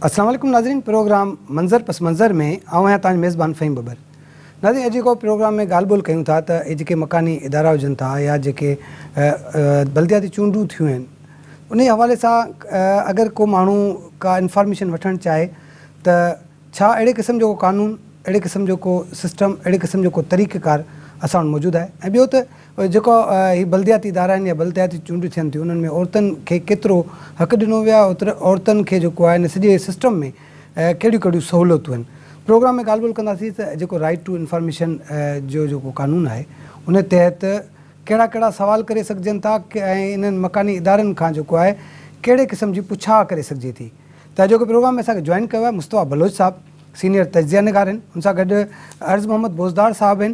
السلام عليڪم ناظرين پروگرام منظر پس منظر ۾ آئون آهيان تنهنجو ميزبان فهيم ببر ناظرين اڄ جيڪو پروگرام ۾ ڳالهه ٻولهه ڪيون ٿا ته هي جيڪي مڪاني ادارا هجن ٿا يا جيڪي بلدياتي چونڊون ٿيون آهن انهي حوالي سان اگر ڪو ماڻهو ڪا انفارميشن وٺڻ چاهي ته ڇا اهڙي قسم جو ڪو قانون، اهڙي قسم جو ڪو سسٽم، اهڙي قسم جو ڪو طريقه ڪار اسان وٽ موجود آهي ۽ ٻيو ته جيڪو هي بلدياتي ادارا آهن يا بلدياتي چونڊيون ٿين ٿيون انهن ۾ عورتن کي ڪيترو حق ڏنو ويو آهي اوترو عورتن کي جيڪو آهي ان سڄي سسٽم ۾ ڪهڙيون ڪهڙيون سهولتون آهن. پروگرام ۾ ڳالهه ٻولهه ڪنداسين ته جيڪو رائيٽ ٽو انفارميشن جو جيڪو قانون آهي ان تحت ڪهڙا ڪهڙا سوال ڪري سگهجن ٿا ۽ انهن مڪاني ادارن کان جيڪو آهي ڪهڙي قسم جي پڇا ڪري سگهجي ٿي. ته اڄوڪي پروگرام ۾ اسان کي جوائن ڪيو آهي مصطفيٰ بلوچ صاحب سينيئر تجزيه نگار آهن ان سان گڏ عرض محمد بوزدار صاحب آهن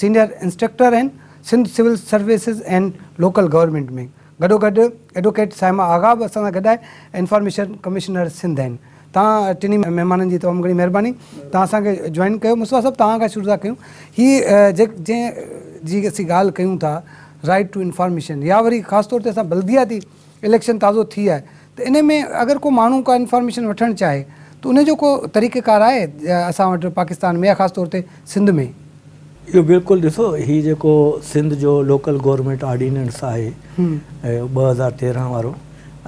سينيئر انسٽرڪٽر آهن Sindh civil services and local government ۾ گڏو گڏ ايڊوڪيٽ صائمه آغا به اسان سان گڏ آهي انفارميشن ڪمشنر سنڌ آهن توهان ٽنهي مهمانن جي تمام گهڻي مهرباني توهان اسان کي جوائن ڪيو مصطفيٰ صاحب توهان کان شروع ٿا ڪيون هي جنهن جي اسين ڳالهه ڪيون ٿا رائيٽ ٽو انفارميشن يا وري خاص طور تي اسان بلدياتي اليڪشن تازو ٿي آهي ته انهي ۾ اگر ڪو ماڻهو ڪا انفارميشن وٺڻ چاهي ته انهي جو ڪو طريقه ڪار آهي اسان وٽ پاڪستان ۾ يا خاص طور تي سنڌ ۾؟ اهو بلڪل ڏسو هي جيڪو سنڌ جو لوڪل گورنمينٽ آرڊيننس آهي ٻه هزار تيرنهن وارو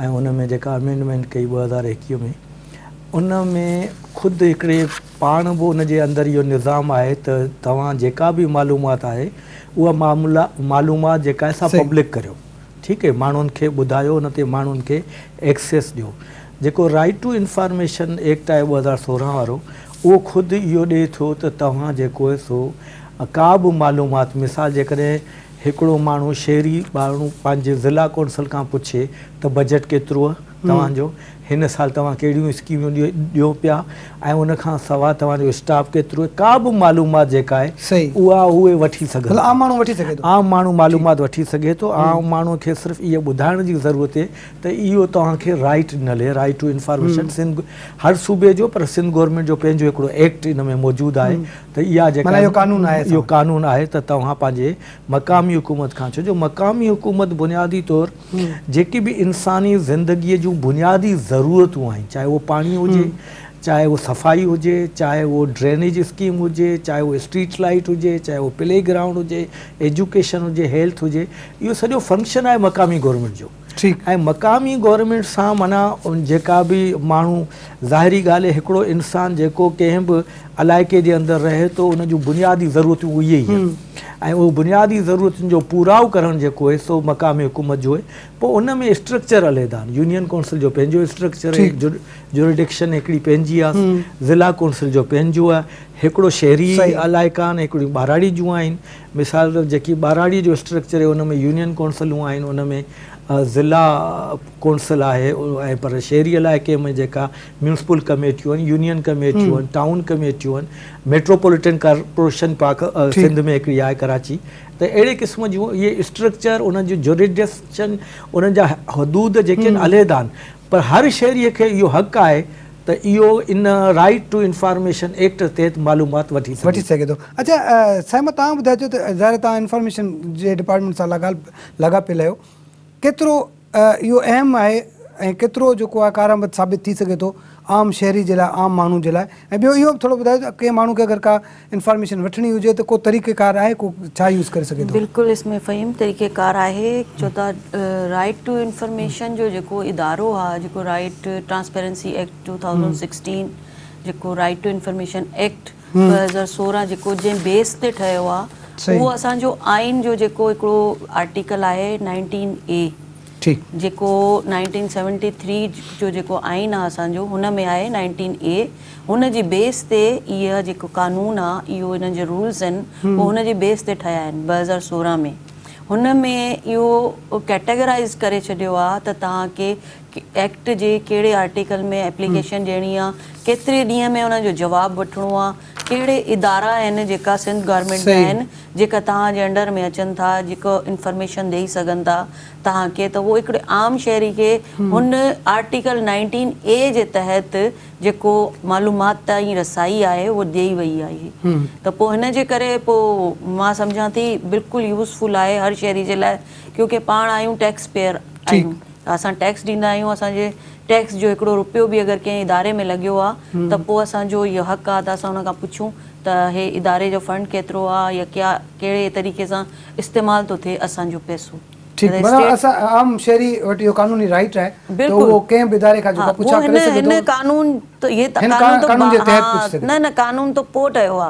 ۽ ان ۾ جيڪا امينڊمينٽ ڪئي ٻه هزار ايڪويهه ۾ ان ۾ خود هڪڙي پاڻ به ان جي اندر اهو نظام آهي ته توهان جيڪا به معلومات آهي اها معلومات جيڪا آهي سا پبلڪ ڪريو ٺيڪ اهي ماڻهن کي ٻڌايو ان تي ماڻهن کي ايڪسيس ڏيو جيڪو رائيٽ ٽو انفارميشن ايڪٽ آهي ٻه هزار سورهن وارو اهو خود اهو ڏئي ٿو ته توهان جيڪو آهي سو ڪا به معلومات مثال جيڪڏهن هڪڙو ماڻهو شهري ٻارڙو پنهنجي ضلع ڪونسل کان پڇي ته بجيٽ ڪيتروهي توهان جو هن سال توهان ڪهڙيون اسڪيمون ڏيو پيا ۽ ان کان سواء توهان جو اسٽاف ڪيترو آهي ڪا به معلومات جيڪا آهي اها اهي وٺي سگهن ٿا عام ماڻهو وٺي سگهي ٿو عام ماڻهو معلومات وٺي سگهي ٿو عام ماڻهو کي صرف اهي ٻڌائڻ جي ضرورت اهي ته اهو توهان کي رائيٽ نلي رائيٽ ٽو انفارميشن سنڌ هر صوبي جو پر سنڌ گورنمينٽ جو پنهنجو هڪڙو ايڪٽ ان ۾ موجود آهي ته اها جيڪا اهو قانون آهي اهو قانون آهي ته توهان پنهنجي مقامي حڪومت کان ڇو جو مقامي حڪومت بنيادي طور جيڪي به انساني زندگيء جون بنيادي ضرورتون آهن، چاهي اهو پاڻي هجي، چاهي اهو صفائي هجي، چاهي اهو ڊرينيج اسڪيم هجي، چاهي اهو اسٽريٽ لائيٽ هجي، چاهي اهو پلي گرائونڊ هجي، ايجوڪيشن هجي، هيلٿ هجي، اهو سڄو فنڪشن آهي مقامي گورنمينٽ جو ۽ مقامي گورنمينٽ سان معنيٰ جيڪا به ماڻهو ظاهري ڳالهه هڪڙو انسان جيڪو ڪنهن به علائقي جي اندر رهي ٿو ان جون بنيادي ضرورتون اهي ئي آهن ۽ اهو بنيادي ضرورتن جو پورائو ڪرڻ جيڪو آهي سو مقامي حڪومت جو آهي پوء ان ۾ اسٽرڪچر عليحده آهن يونين ڪونسل جو پنهنجو اسٽرڪچر آهي جوريڊڪشن هڪڙي پنهنجي آهي ضلع ڪونسل جو پنهنجو آهي هڪڙو شهري علائقا آهن هڪڙيون ٻهراڙي جون آهن مثال طور جيڪي ٻهراڙي جو اسٽرڪچر آهي ان ۾ يونين ڪونسلون آهن ان ۾ ضلع ڪونسل آهي ۽ پر شهري علائقي ۾ جيڪا ميونسپل ڪميٽيون، يونين ڪميٽيون، ٽائون ڪميٽيون، ميٽروپوليٽن ڪارپوريشن پاڪ سنڌ ۾ هڪڙي آهي ڪراچي ته اهڙي قسم جون اهي اسٽرڪچر انهن جون جوريڊسشن انهن جا حدود جيڪي آهن عليحده آهن پر هر شهري کي اهو حق آهي ته اهو ان رائيٽ ٽو انفارميشن ايڪٽ تحت معلومات وٺي سگهي ٿو. اڇا سائين مان توهان ٻڌائجو ته ظاهر آهي توهان انفارميشن جي ڊپارٽمينٽ سان لاڳاپيل آهيو. ڪيترو اهو اهم آهي ۽ ڪيترو جيڪو آهي ڪارآمد ثابت ٿي سگهي ٿو عام شهري جي لاء عام ماڻهو جي لاء ۽ ٻيو اهو به ٿورو ٻڌايو ته ڪنهن ماڻهو کي اگر ڪا انفارميشن وٺڻي هجي ته ڪو طريقه ڪار آهي ڪو ڇا يوز ڪري سگهي ٿو. بلڪل اسمي فهيم طريقه ڪار آهي ڇو ته رائيٽ ٽو انفارميشن جو جيڪو ادارو آهي جيڪو right transparency act two thousand sixteen جيڪو رائيٽ ٽو انفارميشن ايڪٽ ڏهه هزار سورهن جيڪو جنهن بيس تي ٺهيو آ اهو اسان جو آئين جو جيڪو هڪڙو آرٽيڪل آهي نائنٽين اي جيڪو نائنٽين سيونٽي ٿري جو جيڪو آئين آ اسان جو هن ۾ آهي نائنٽين اي هن جي بيس تي اهي جيڪو قانون آ اهو انهن جي رولز آهن اهو هن جي بيس تي ٺهيا آهن ٻه هزار سورهن ۾ هن ۾ اهو ڪيٽيگرائيز ڪري ڇڏيو آ ته توهان کي ايڪٽ جي ڪهڙي آرٽيڪل ۾ ايپليڪيشن ڏيڻي آ، ڪيتري ڏينهن ۾ انهن جو جواب وٺڻو آ، ڪهڙي ادارا آهن جيڪا سنڌ گورنمينٽ جا آهن جيڪا توهان جي انڊر ۾ اچن ٿا جيڪو انفارميشن ڏئي سگهن ٿا توهان کي ته اهو هڪڙي عام شهري کي هن آرٽيڪل نائنٽين اي جي تحت جيڪو معلومات تائين رسائي آهي اهو ڏئي وئي آهي ته پوء هن جي ڪري پوء مان سمجهان ٿي بلڪل يوزفل آهي هر شهري جي لاء ڪيونڪه پاڻ آهيون ٽيڪس پيئر آهيون اسان ٽيڪس ڏيندا آهيون اسان جي ٽيڪس جو هڪڙو رپيو به اگر ڪنهن اداري ۾ لڳيو آ ته پو اسان جو اهو حق آ ته اسان ان کان پڇون ته هي اداري جو فنڊ ڪيترو آ يا ڪيا ڪهڙي طريقي سان استعمال ٿو ٿئي اسان جو پئسو ٺيڪ معنيٰ اسان عام شهري وٽ اهو قانوني رائيٽ آهي ته اهو ڪنهن به اداري کان جيڪو آ پڇا ڪري سگهي ٿو هن قانون ته هن قانون جي تحت پڇي سگهي ٿو نه نه قانون ته پو ٺهيو آ.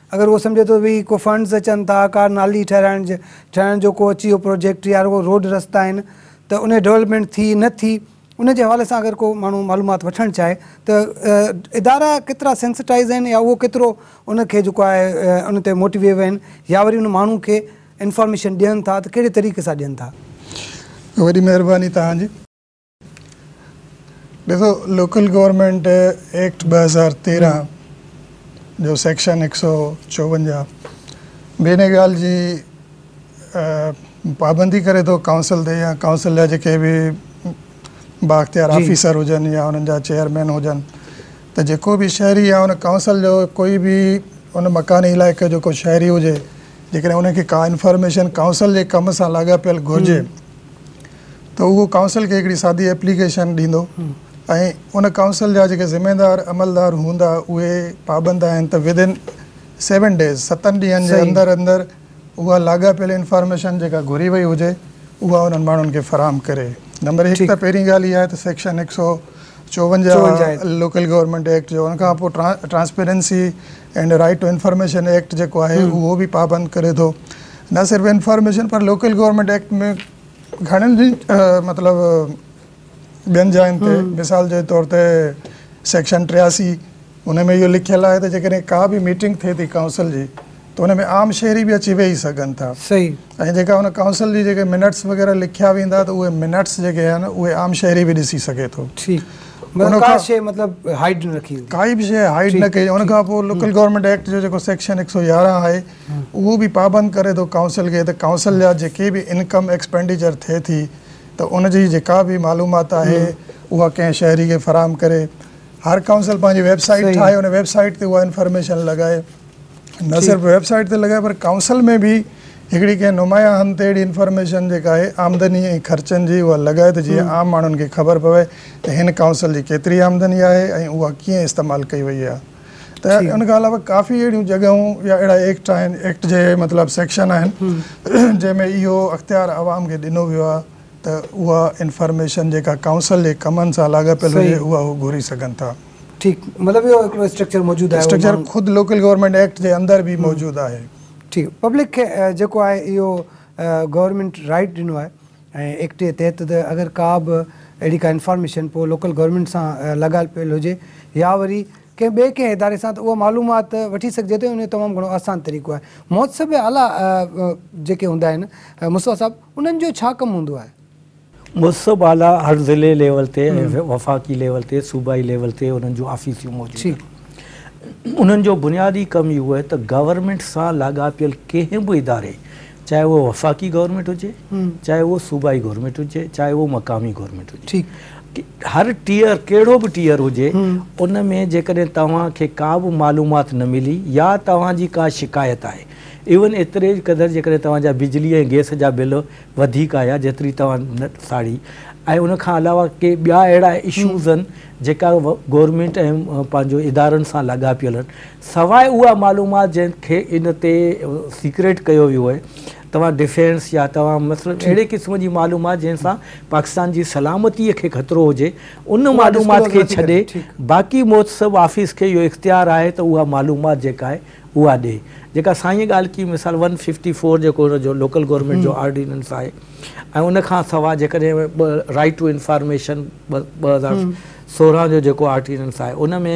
اگر اهو سمجهي ٿو ڀي ڪو فنڊز اچن ٿا ڪا نالي ٺهرائڻ جي ٺهڻ جو ڪو اچي اهو پروجيڪٽ يا رڳو روڊ رستا آهن ته انهي ڊولپمينٽ ٿي نه ٿي ان جي حوالي سان اگر ڪو ماڻهو معلومات وٺڻ چاهي ته ادارا ڪيترا سينسٽائز آهن يا اهو ڪيترو ان کي جيڪو آهي ان تي موٽيويو آهن يا وري ان ماڻهو کي انفارميشن ڏين ٿا ته ڪهڙي طريقي سان ڏين ٿا. وڏي مهرباني توهان جي. ڏسو لوڪل گورنمينٽ ايڪٽ ٻه هزار تيرهن جو سيڪشن هڪ سؤ چوونجاهه به ان ڳالهه جي پابندي ڪري ٿو ڪائونسل تي يا ڪائونسل جا جيڪي به بااختيار آفيسر هجن يا انهن جا چيئرمين هجن ته جيڪو به شهري يا ان ڪائونسل جو ڪوئي به ان مڪاني علائقي جو ڪو شهري هجي جيڪڏهن ان کي ڪا انفارميشن ڪائونسل جي ڪم سان لاڳاپيل گهرجي ته اهو ڪائونسل کي هڪڙي سادي ايپليڪيشن ڏيندو ۽ ان ڪائونسل جا جيڪي ذميوار عملدار هوندا اهي پابند آهن ته ود ان سيون ڊيز ستن ڏينهن جي اندر اندر اها لاڳاپيل انفارميشن جيڪا گهري وئي هجي اها انهن ماڻهن کي فراهم ڪري. نمبر هڪ ته پهرين ڳالهه اها آهي ته سيڪشن هڪ سؤ چوونجاهه لوڪل گورنمينٽ ايڪٽ جو ان کان پوء transparency and right to information act جيڪو آهي اهو به پابند ڪري ٿو نه صرف انفارميشن پر لوڪل گورنمينٽ ايڪٽ ۾ گهڻين جي مطلب ٻين جاين تي مثال جي طور تي سيڪشن ٽياسي ان ۾ اهو لکيل آهي ته جيڪڏهن ڪا به ميٽنگ ٿئي ٿي ڪائونسل جي ته ان ۾ عام شهري به اچي ويهي سگهن ٿا ۽ جيڪا ان ڪائونسل جي جيڪي منٽس وغيره لکيا ويندا ته اهي منٽس جيڪي آهن اهي عام شهري به ڏسي سگهي ٿو ڪا شيء مطلب هائيڊ نه رکي ويندي ڪائي به شيء هائيڊ نه ڪئي ان کان پوء لوڪل گورنمينٽ ايڪٽ جو جيڪو سيڪشن ايڪ سو يارهن آهي اهو به پابند ڪري ٿو ڪائونسل کي ته ڪائونسل جا جيڪي به انڪم ايڪسپينڊيچر ٿئي ٿي ته ان جي جيڪا به معلومات آهي اها ڪنهن شهري کي فراهم ڪري. هر ڪائونسل پنهنجي ويب سائيٽ ٺاهي ان ويب سائيٽ تي اها انفارميشن لڳائي. نه صرف ويب سائيٽ تي لڳائي پر ڪائونسل ۾ به هڪڙي ڪنهن نمايان هنڌ تي اهڙي انفارميشن جيڪا آهي آمدني ۽ خرچن جي اها لڳائي ته جيئن عام ماڻهن کي خبر پوي ته هن ڪائونسل جي ڪيتري آمدني آهي ۽ اها ڪيئن استعمال ڪئي وئي آهي. ته ان کان علاوه ڪافي اهڙيون جڳهيون يا اهڙا ايڪٽ آهن، ايڪٽ جي مطلب سيڪشن آهن جنهن ۾ اهو اختيار عوام کي ڏنو ويو آهي ته اها انفارميشن جيڪا ڪائونسل جي ڪمن سان لاڳاپيل هجي اها هو گهري سگهن ٿا. ٺيڪ مطلب اهو هڪڙو اسٽرڪچر موجود آهي. اسٽرڪچر خود لوڪل گورنمينٽ ايڪٽ جي اندر به موجود آهي. ٺيڪ پبلڪ کي جيڪو آهي اهو گورنمينٽ رائيٽ ڏنو آهي. ۽ ايڪٽ جي تحت ته اگر ڪا به اهڙي ڪا انفارميشن پوء لوڪل گورنمينٽ سان لاڳايل پيل هجي يا وري ڪنهن ٻئي ڪنهن اداري سان ته اها معلومات وٺي سگهجي ٿي ان جو تمام گهڻو آسان طريقو آهي محتسب اعليٰ جيڪي هوندا آهن مصباح صاحب انهن جو ڇا ڪم هوندو آهي؟ محتسب اعليٰ هر ضلعي ليول تي ۽ وفاقي ليول تي صوبائي ليول تي انهن جون آفيسيون موجود آهن انهن جو بنيادي ڪم اهو آهي ته گورنمينٽ سان لاڳاپيل ڪنهن به اداري چاهي اهو وفاقي گورنمينٽ هجي چاهي اهو صوبائي گورنمينٽ هجي چاهي اهو مقامي گورنمينٽ هجي هر ٽيئر ڪهڙو به ٽيئر هجي ان ۾ جيڪڏهن توهان کي ڪا به معلومات نه ملي يا توهان جي ڪا شڪايت آهي ايون ايتري قدر جيڪڏهن توهان جا بجلي ۽ گئس جا بل وڌيڪ آيا جيتري توهان نه ساڙي ۽ ان کان علاوه ڪي ٻيا اهڙا اشوز آهن جيڪا گورنمينٽ ۽ پنهنجو ادارن سان لاڳاپيل آهن سواء اها معلومات جنهن کي ان تي سيڪريٽ ڪيو ويو آهي توهان ڊفينس يا توهان مثلاً اهڙي قسم جي معلومات جنهن سان پاڪستان جي سلامتي کي خطرو هجي ان معلومات کي ڇڏي باقي محتسب آفيس کي اهو اختيار آهي ته اها معلومات جيڪا آهي اها ڏي جيڪا سائين ڳالهه ڪئي مثال ون ففٽي فور جيڪو ان جو لوڪل گورنمينٽ جو آرڊيننس آهي ۽ ان کان سواء جيڪڏهن رائيٽ ٽو انفارميشن ٻه هزار سورهن جو جيڪو آرڊيننس آهي ان ۾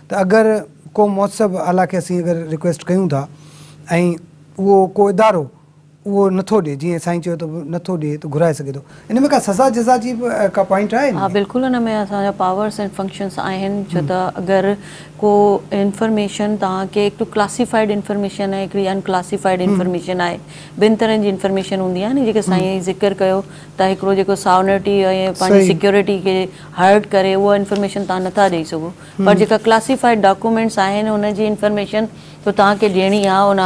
ته اگر ڪو مهتسب اعليٰ کي اسين اگر ريڪويسٽ ڪيون ٿا ۽ اهو ڪو ادارو اهو نٿو ڏي جيئن سائين چيو ته نٿو ڏي ته گهرائي سگهي ٿو ان ۾ ڪا سزا جزا جي به ڪا پوائنٽ آهي ان ها ۾؟ بلڪل ان ۾ اسان جا پاورس ۽ فنڪشنس آهن ڇو ته اگر ڪو انفرميشن توهان کي هڪ ته ڪلاسيفائيڊ انفرميشن ۽ هڪڙي ان ڪلاسيفائيڊ انفرميشن آهي ٻن طرحن جي انفرميشن هوندي آهي نه جيڪي سائين اهي ذڪر ڪيو ته هڪڙو جيڪو ساونرٽي ۽ پنهنجي سيڪيورٽي کي هرٽ ڪري اها انفرميشن توهان نٿا ڏئي سگهو پر جيڪا ڪلاسيفائيڊ ڊاڪومينٽس آهن ان جي انفرميشن ته توهان کي ڏيڻي آهي ان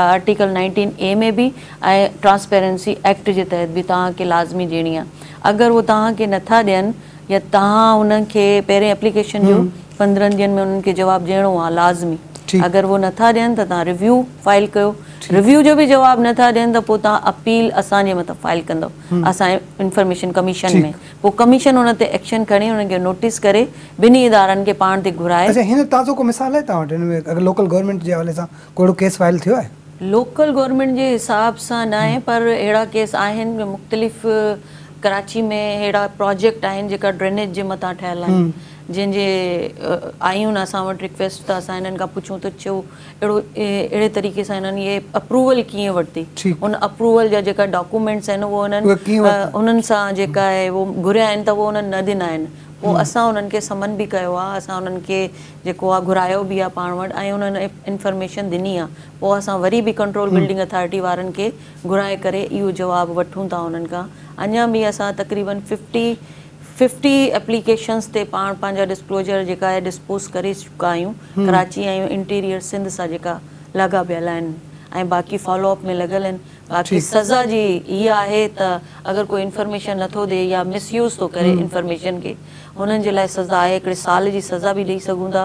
آرٽيڪل نائنٽين اي ۾ به ۽ ٽرانسپيرنسي ايڪٽ جي تحت به توهان کي لازمي ڏيڻي آهي اگر هو توهان کي نٿا ڏين يا توهان انهن کي پهرين ايپليڪيشن ڏيو پندرهن ڏينهن ۾ انهن کي جواب ڏيڻو آهي لازمي اگر هو نٿا ڏين ته توهان ريويو فائل ڪيو ريويو جو به جواب نٿا ڏين ته پوء توهان اپيل اسان جي مٿان فائل ڪندو اسان انفرميشن ڪميشن ۾ پوء ڪميشن ان تي ايڪشن کڻي انهن کي نوٽيس ڪري بنهي ادارن کي پاڻ تي گهرائي. اچا هن تازو ڪو مثال آهي توهان وٽ هن ۾ لوڪل گورنمينٽ جي حوالي سان ڪو اهڙو ڪيس فائل ٿيو آهي؟ لوڪل گورنمينٽ جي حساب سان ناهي پر اهڙا ڪيس آهن جو مختلف ڪراچي ۾ اهڙا پراجيڪٽ آهن جيڪا ڊرينيج جي مٿان ٺهيل آهن جنهن جي آيون اسان وٽ رڪويسٽ ته اسان هنن کان پڇون ته ڇو اهڙو اهڙي طريقي سان هنن اهي اپروول ڪيئن ورتي ان اپروول جا جيڪا ڊاڪومينٽس آهن اهو هنن انهن سان جيڪا اهي اهو گهريا آهن ته اهو انهن نه ڏنا آهن پوء اسان انهن کي سمن به ڪيو آهي اسان انهن کي جيڪو آهي گهرايو به آهي پاڻ وٽ ۽ انهن انفرميشن ڏني آهي پوء اسان وري به ڪنٽرول بلڊنگ اٿارٽي وارن کي گهرائي ڪري اهو جواب وٺون ٿا انهن کان اڃان به اسان تقريبن ففٽي ففٽي ايپليڪيشنز تي پاڻ پنهنجا ڊسڪلوزر جيڪا اهي ڊسپوز ڪري چڪا آهيون ڪراچي ۽ انٽيريئر سنڌ سان جيڪا لاڳا پيل آهن ۽ باقي فالو اپ ۾ لڳل آهن باقي سزا جي اها آهي ته اگر ڪو انفرميشن نٿو ڏي يا مس يوز ٿو ڪري انفرميشن کي هنن جي لاء سزا آهي هڪڙي سال جي سزا به ڏئي سگهون ٿا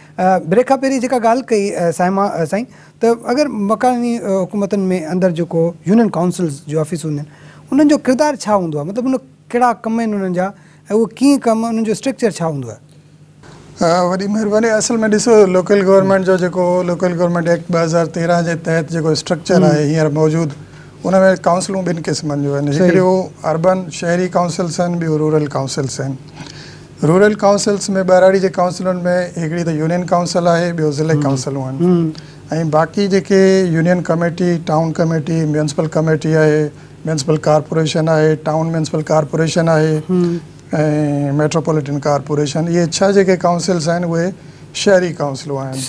بريڪ کان پهرين جيڪا ڳالهه ڪئي صائمه سائين ته اگر مڪاني حڪومتن ۾ اندر جيڪو يونين ڪائونسلز جون آفيسون هونديون آهن انهن جو ڪردار ڇا هوندو آهي مطلب ان ڪهڙا ڪم آهن انهن جا ۽ اهو ڪيئن ڪم انهن جو اسٽرڪچر ڇا هوندو آهي. وڏي مهرباني اصل ۾ ڏسو لوڪل گورنمينٽ جو جيڪو لوڪل گورنمينٽ ايڪٽ ٻه هزار تيرنهن جي تحت جيڪو اسٽرڪچر آهي هينئر موجود ان ۾ ڪائونسلون ٻن قسمن جون آهن هڪڙيون اربن شهري ڪائونسلز آهن ٻيون رورل ڪائونسلز آهن رورل ڪائونسلز ۾ ٻهراڙي جي ڪائونسلن ۾ هڪڙي ته يونين ڪائونسل آهي ٻيو ضلعي ڪائونسلون آهن ۽ باقي جيڪي union committee, town committee, municipal committee آهي، ميونسپل ڪارپوريشن آهي، ٽائون ميونسپل ڪارپوريشن آهي ۽ ميٽروپوليٽن ڪارپوريشن اهي ڇهه جيڪي ڪائونسلز آهن اهي شهري ڪائونسلون آهن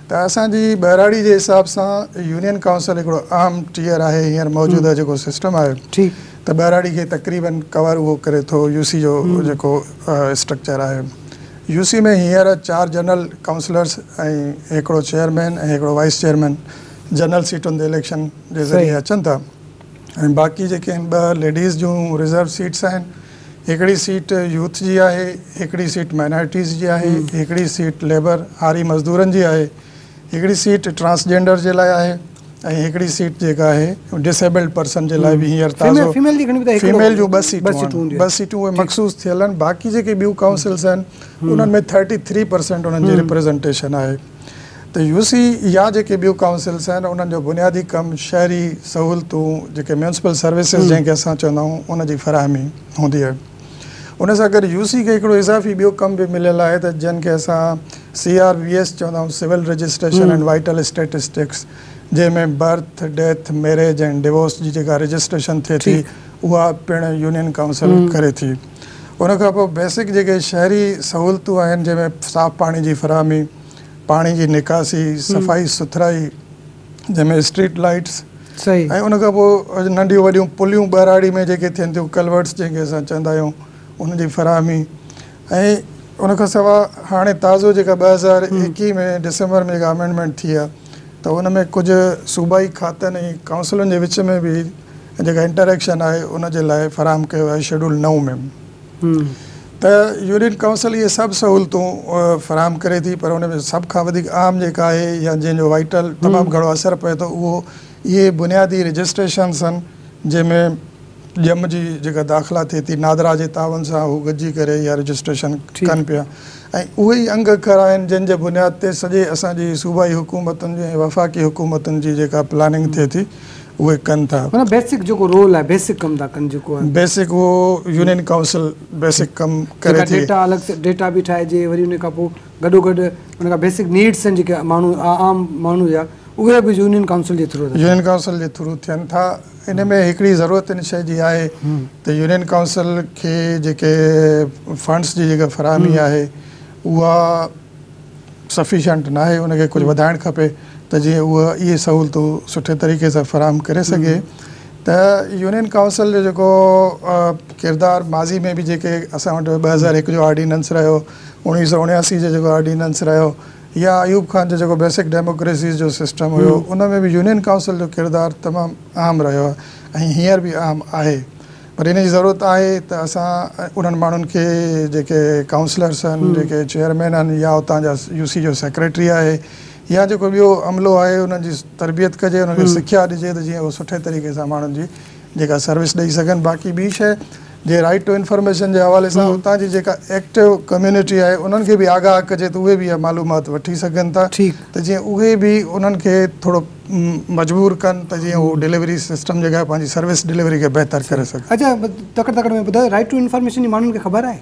ته اسان جي ٻهراڙي جي حساب سان يونين ڪائونسل هڪڙو اهم ٽيئر آهي هينئر موجوده جيڪو سسٽم آهي ته ٻهراڙي کي تقريباً ڪور اهو ڪري ٿو يو سي جو جيڪو اسٽرڪچر آهي. يو سي ۾ هينئر چار جنرل ڪائونسلرز ۽ هڪڙو چيئرمين ۽ هڪڙو وائيس چيئرمين جنرل سيٽن تي اليڪشن جي ذريعي اچن ٿا ۽ باقي جيڪي آهن ٻه ليڊيز جون رزرو سيٽس آهن هڪڙي سيٽ يوٿ جي آهي هڪڙي سيٽ مائنارٽيز جي آهي هڪڙي سيٽ ليبر آري مزدورن جي آهي هڪڙي سيٽ ٽرانسجينڊر جي لاء آهي. ۽ هڪڙي سيٽ جيڪا آهي ڊس ايبلڊ پرسن جي لاء به هينئر تازو فيميل جون ٻه سيٽون آهن ٻه سيٽون اهي مخصوص ٿيل آهن باقي جيڪي ٻيون ڪائونسلس آهن انهن ۾ ٿرٽي ٿري پرسنٽ انهن جي ريپريزنٽيشن آهي ته يو سي يا جيڪي ٻيون ڪائونسلس آهن انهن جو بنيادي ڪم شهري سهولتون جيڪي ميونسپل سروسز جنهن کي اسان چوندا آهيون ان جي فراهمي هوندي آهي. ان سان گڏ يو سي کي هڪڙو اضافي ٻيو ڪم به مليل آهي ته جنھن کي اسان سي آر وي ايس چوندا آهيون civil registration and vital statistics جنھن ۾ birth, death, marriage and divorce جي جيڪا رجسٽريشن ٿئي ٿي اها پڻ يونين ڪائونسل ڪري ٿي. ان کان پوء بيسڪ جيڪي شهري سهولتون آهن جنھن ۾ صاف پاڻي جي فراهمي، پاڻي جي نڪاسي، صفائي سٿرائي، جنهن ۾ اسٽريٽ لائيٽس ۽ ان کان پوء ننڍيون وڏيون پليون ٻهراڙي ۾ جيڪي ٿين ٿيون ڪلورٽس جنهن کي اسان چوندا آهيون ان جي فراهمي ۽ ان کان سواء هاڻي تازو جيڪا ٻه هزار ايڪيهه ۾ ڊسمبر ۾ جيڪا امينڊمينٽ ٿي آهي ته ان ۾ ڪجهه صوبائي کاتن ۽ ڪائونسلن جي وچ ۾ به جيڪا انٽريڪشن آهي ان جي لاء فراهم ڪيو آهي شيڊول نو ۾ ته يونٽ ڪائونسل اهي سڀ سهولتون فراهم ڪري ٿي پر ان ۾ سڀ کان وڌيڪ اهم جيڪا آهي يا جنهن جو وائٽل تمام گهڻو اثر پئي ٿو اهو اهي بنيادي رجسٽريشنز آهن جنهن ۾ ڄم جي جيڪا داخلا ٿئي ٿي نادرا جي تعاون سان هو گڏجي ڪري اها رجسٽريشن ڪن پيا ۽ اهي ئي انگ اکر آهن جن جي بنياد تي سڄي اسان جي صوبائي حڪومتن جي ۽ وفاقي حڪومتن جي جيڪا پلاننگ ٿئي ٿي اهي ڪن ٿا. معنيٰ بيسڪ جيڪو رول آهي بيسڪ ڪم ٿا ڪن جيڪو. بيسڪ اهو يونين ڪائونسل بيسڪ ڪم ڪري ٿي. ڊيٽا الڳ سان ڊيٽا به ٺاهجي وري ان کان پوء گڏو گڏ ان کان بيسڪ نيڊس آهن جيڪي ماڻهو عام ماڻهو جا اهي به يونين ڪائونسل جي ٿرو. يونين ڪائونسل جي ٿرو ٿين ٿا ان ۾ هڪڙي ضرورت ان شيء جي آهي ته يونين ڪائونسل کي جيڪي فنڊس جي جيڪا فراهمي آهي اها. سفيشنٽ ناهي ان کي ڪجهه وڌائڻ کپي ته جيئن اهو اهي سهولتون سٺي طريقي سان فراهم ڪري سگهي ته يونين ڪائونسل جو جيڪو ڪردار ماضي ۾ به جيڪي اسان وٽ ٻه هزار هڪ جو آرڊيننس رهيو اوڻيهه سؤ اڻياسي جو جيڪو آرڊيننس رهيو يا ايوب خان جو جيڪو بيسڪ ڊيموڪريسيز جو سسٽم هيو ان ۾ به يونين ڪائونسل جو ڪردار تمام اهم رهيو ۽ هينئر به اهم آهي پر ان جي ضرورت آهي ته اسان انهن ماڻهن کي جيڪي ڪائونسلرس آهن، جيڪي چيئرمين آهن يا اتان جا يو سي جو سيڪريٽري آهي يا جيڪو ٻيو عملو آهي انهن جي تربيت ڪجي، انهن کي سکيا ڏجي ته جيئن اهي سٺي طريقي سان ماڻهن جي جيڪا سروس ڏئي سگهن. باقي ٻي شيء جي رائيٽ ٽو انفارميشن جي حوالي سان اتان جي جيڪا ايڪٽو ڪميونٽي آهي انهن کي به آگاهه ڪجي ته اهي به اها معلومات وٺي سگهن ٿا ته جيئن اهي به انهن کي ٿورو مجبور ڪن ته جيئن هو ڊليوري سسٽم جڳهه پنهنجي سروس ڊليوري کي بهتر ڪري سگهن. اچا تڪڙ تڪڙ ۾ ٻڌايو رائيٽ ٽو انفارميشن جي ماڻهن کي خبر آهي؟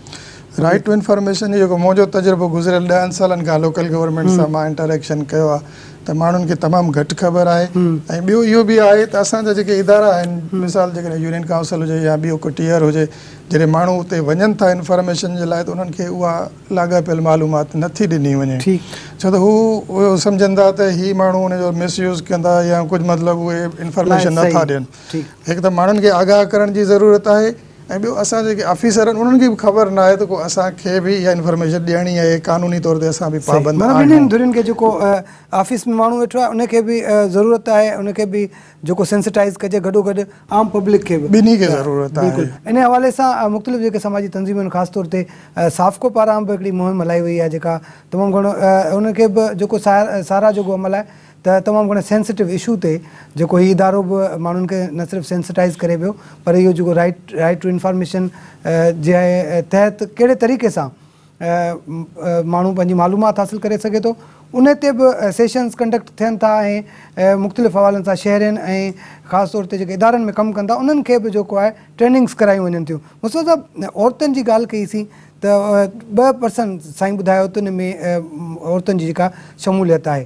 رائيٽ ٽو انفارميشن جو جيڪو منهنجو تجربو گذريل ڏهن سالن کان لوڪل گورنمينٽ سان مان انٽر ايڪشن ڪيو آهي ته ماڻهن کي تمام گهٽ خبر آهي ۽ ٻيو اهو به آهي ته اسان جا جيڪي ادارا آهن مثال جيڪڏهن يونين ڪائونسل هجي يا ٻيو ڪو ٽيئر هجي جڏهن ماڻهو اتي وڃن ٿا انفارميشن جي لاء ته انهن کي اها لاڳاپيل معلومات نه ٿي ڏني وڃي ڇو ته هو اهو سمجهن ٿا ته هي ماڻهو ان جو مس يوز ڪندا يا ڪجهه مطلب اهي انفارميشن نه ٿا ڏين هڪ ته ماڻهن کي آگاهه ڪرڻ جي ضرورت آهي ۽ ٻيو اسان جيڪي آفيسر آهن انهن کي به خبر نه آهي ته ڪو اسان کي به اها انفارميشن ڏيڻي آهي قانوني طور تي اسان به پابند آهيون ٻنهي ڌرين کي جيڪو آفيس ۾ ماڻهو ويٺو آهي ان کي به ضرورت آهي ان کي به جيڪو سينسٽائيز ڪجي گڏوگڏ عام پبلڪ کي به ٻنهي کي ضرورت آهي بلڪل انهي حوالي سان مختلف جيڪي سماجي تنظيمون خاص طور تي سافڪو پاران به هڪڙي مهم هلائي وئي آهي جيڪا تمام گهڻو انهن کي به جيڪو ساراهه جوڳو عمل آهي ته تمام گهڻي سينسٽو اشو تي جيڪو هي ادارو به ماڻهن کي نه صرف سينسٽائيز ڪري پيو پر اهو جيڪو رائيٽ رائيٽ ٽو انفارميشن جي تحت ڪهڙي طريقي سان ماڻهو پنهنجي معلومات حاصل ڪري سگهي ٿو ان تي به سيشنز ڪنڊڪٽ ٿين ٿا ۽ مختلف حوالن سان شهرين ۽ خاص طور تي جيڪي ادارن ۾ ڪم ڪن ٿا انهن کي به جيڪو آهي ٽريننگز ڪرايون وڃن ٿيون مصطفيٰ صاحب عورتن جي ڳالهه ڪئي سين ته ٻه پرسن سائين ٻڌايو ته ان ۾ عورتن جي جيڪا شموليت آهي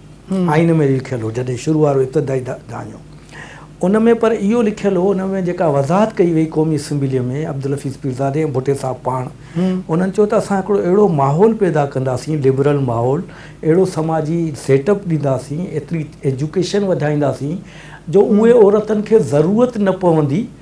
آئين ۾ لکيل هو جڏهن شروع وارو ابتدائي دانيو ان ۾ پر اهو لکيل هو ان ۾ جيڪا وضاحت ڪئي وئي قومي اسيمبليء ۾ عبدالحفيظ پيرزادي ۽ ڀٽي صاحب پاڻ انهن چيو ته اسان هڪڙو اهڙو ماحول پيدا ڪنداسين لبرل ماحول اهڙو سماجي سيٽ اپ ڏينداسين ايتري ايجوڪيشن وڌائينداسين جو اهي عورتن کي ضرورت نه پوندي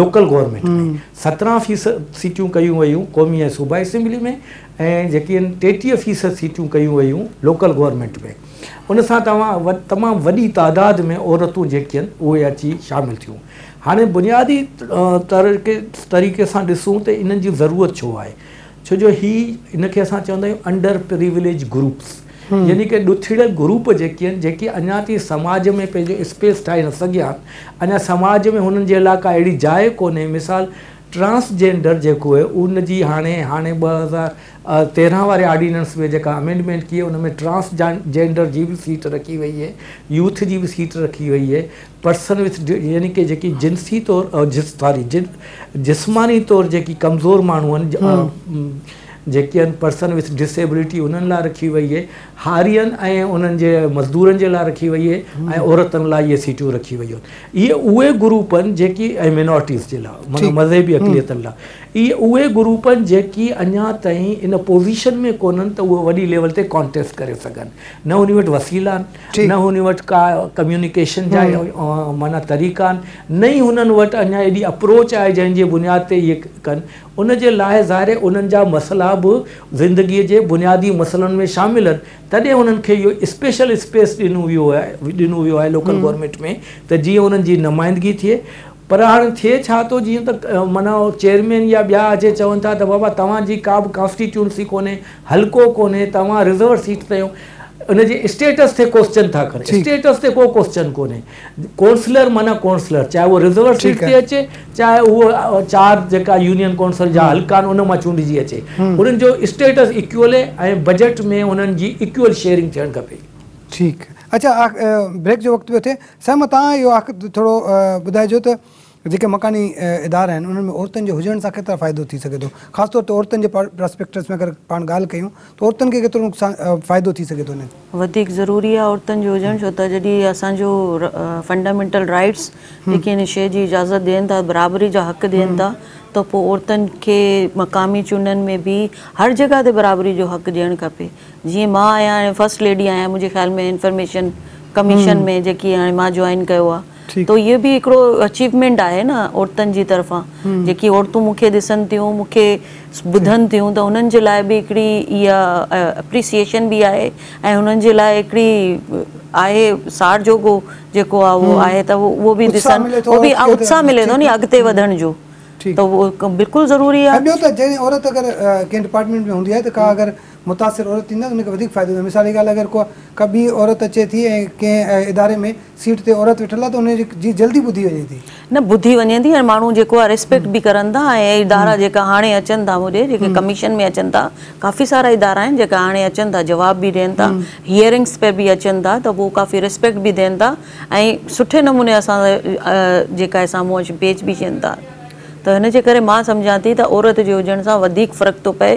لوڪل گورنمينٽ ۾ سترهن فيصد سيٽيون ڪيون ويون قومي ۽ صوبائي اسيمبلي ۾ ۽ جيڪي آهن ٽيٽيهه فيصد سيٽيون ڪيون ويون لوڪل گورنمينٽ ۾ ان سان توهان تمام وڏي تعداد ۾ عورتون جيڪي آهن اهي اچي شامل ٿيون هاڻي بنيادي طريقي سان ڏسون ته انهن جي ضرورت ڇو آهي ڇو جو هي ان کي اسان چوندا آهيون انڊر پريوليج گروپس يعني ڪي ڏوٿڙيل گروپ جيڪي آهن جيڪي اڃا تائين سماج ۾ پنهنجو اسپيس ٺاهي نه سگهيا آهن اڃا سماج ۾ هنن جي لاء ڪا اهڙي جاء ڪونهي مثال ٽرانس جينڊر جيڪو آهي ان جي هاڻي هاڻي ٻه هزار تيرهن واري آرڊيننس ۾ جيڪا امينڊمينٽ ڪئي ان ۾ ٽرانس جينڊر جي به سيٽ رکي وئي آهي يوٿ جي به سيٽ رکي وئي آهي پرسن وٿ ڊيو يعني ڪي جيڪي جنسي طور ساري جسماني طور جيڪي ڪمزور ماڻهو آهن جيڪي آهن پرسن وٿ ڊس ايبلٽي انهن لاء رکي وئي آهي هارين ۽ انهن جي مزدورن جي لاء رکي وئي آهي ۽ عورتن لاء اهي سيٽون رکي ويون اهي اهي گروپ آهن جيڪي ۽ مينارٽيز جي لاء مطلب مذهبي اقليتن لاء اهي اهي گروپ آهن جيڪي اڃا تائين ان پوزيشن ۾ ڪونهن ته اهي وڏي ليول تي ڪانٽيسٽ ڪري سگهن نه انهي وٽ وسيلا آهن نه هن وٽ ڪا ڪميونيڪيشن جا معنيٰ طريقا آهن، نه ئي هنن وٽ اڃا ايڏي اپروچ آهي جنهن جي بنياد تي اهي ڪن. ان جي لاء ظاهر انهن جا مسئلا به زندگيء جي بنيادي مسئلن ۾ شامل آهن. تڏهن انهن کي اهو اسپيشل اسپيس ڏنو ويو آهي لوڪل گورنمينٽ ۾ ته جيئن انهن جي نمائندگي ٿئي. پر هاڻ ٿئي ڇا ٿو جيئن ته معنيٰ اهو چيئرمين يا ٻيا اچي چون ٿا ته بابا توهان جي ڪا به ڪانسٽيٽيونسي ڪونهي، حلقو ڪونهي، توهان رزرو سيٽ تي آهيو. ان جي اسٽيٽس تي ڪوسچن ٿا ڪن. ٺيڪ. اسٽيٽس تي ڪو ڪوسچن ڪونهي. ڪونسلر معنيٰ ڪونسلر چاهي اهو رزرو سيٽ ٺيڪ تي آهي. اچي چاهي اهو چار جيڪا يونين ڪونسل جا حلقا آهن ان مان چونڊجي اچي. انهن جو اسٽيٽس ايڪول اهي ۽ بجيٽ ۾ انهن جي ايڪول شيئرنگ ٿيڻ کپي. ٺيڪ. اچا آخ بريڪ جو وقت پيو ٿئي. سيما تان اهو آ ڪ ٿورو ٻڌائجو ته جيڪي مڪاني ادارا آهن انهن ۾ عورتن جي هجڻ سان ڪيترا فائدو ٿي سگهي ٿو خاص طور تي عورتن جي پراسپيڪٽس ۾ اگر پاڻ ڳالهه ڪيون ته عورتن کي ڪيترو نقصان فائدو ٿي سگهي ٿو انهن وڌيڪ ضروري آ عورتن جو هجڻ ڇو ته جڏهن اسان جو فنڊامينٽل رائيٽس جيڪي ان شي جي اجازت ڏين ٿا برابري جا حق ڏين ٿا ته پو عورتن کي مقامي چونڊن ۾ به هر جڳهه تي برابري جو حق ڏيڻ کپي جيئن مان آهيان هاڻي فرسٽ ليڊي آهيان منهنجي خيال ۾ انفرميشن ڪميشن ۾ جيڪي هاڻي مان جوائن ڪيو آ ته اهي به هڪڙو اچيومينٽ آهي نه عورتن جي طرفان جيڪي عورتون مون کي ڏسن ٿيون مون کي ٻڌن ٿيون ته انهن جي لاء به هڪڙي اها اپريسيئشن به آهي ۽ انهن جي لاء هڪڙي آهي ساڙ جوڳو جيڪو آ اهو آهي ته اهو به ڏسن اهو به اتساهه ملي ٿو ني اڳتي وڌڻ جو ته اهو بلڪل ضروري آ. ۽ ٻيو ته جنهن عورت اگر ڪنهن ڊپارٽمينٽ ۾ هوندي آهي ته ڪا اگر متاثر عورت ٿيندي آهي ته ان کي وڌيڪ فائدو ٿيندو آهي مثال جي ڳالهه اگر ڪو ڪا ٻي عورت اچي ٿي ۽ ڪنهن اداري ۾ سيٽ تي عورت ويٺل آهي ته ان جي جلدي ٻڌي وڃي ٿي. نه ٻڌي وڃي ٿي ۽ ماڻهو جيڪو آهي ريسپيڪٽ به ڪرن ٿا ۽ ادارا جيڪا هاڻي اچن ٿا هوڏي جيڪي ڪميشن ۾ اچن ٿا ڪافي سارا ادارا آهن جيڪا هاڻي اچن ٿا جواب به ڏين ٿا هيئرنگس پي به اچن ٿا ته پوء ڪافي ريسپيڪٽ به ڏين ٿا ۽ سٺي نموني اسان سان جيڪا آهي سامهون اچي پيش به ٿين ٿا ته هن جي ڪري مان سمجهان ٿي ته عورت جي هجڻ سان وڌيڪ فرق ٿو پئي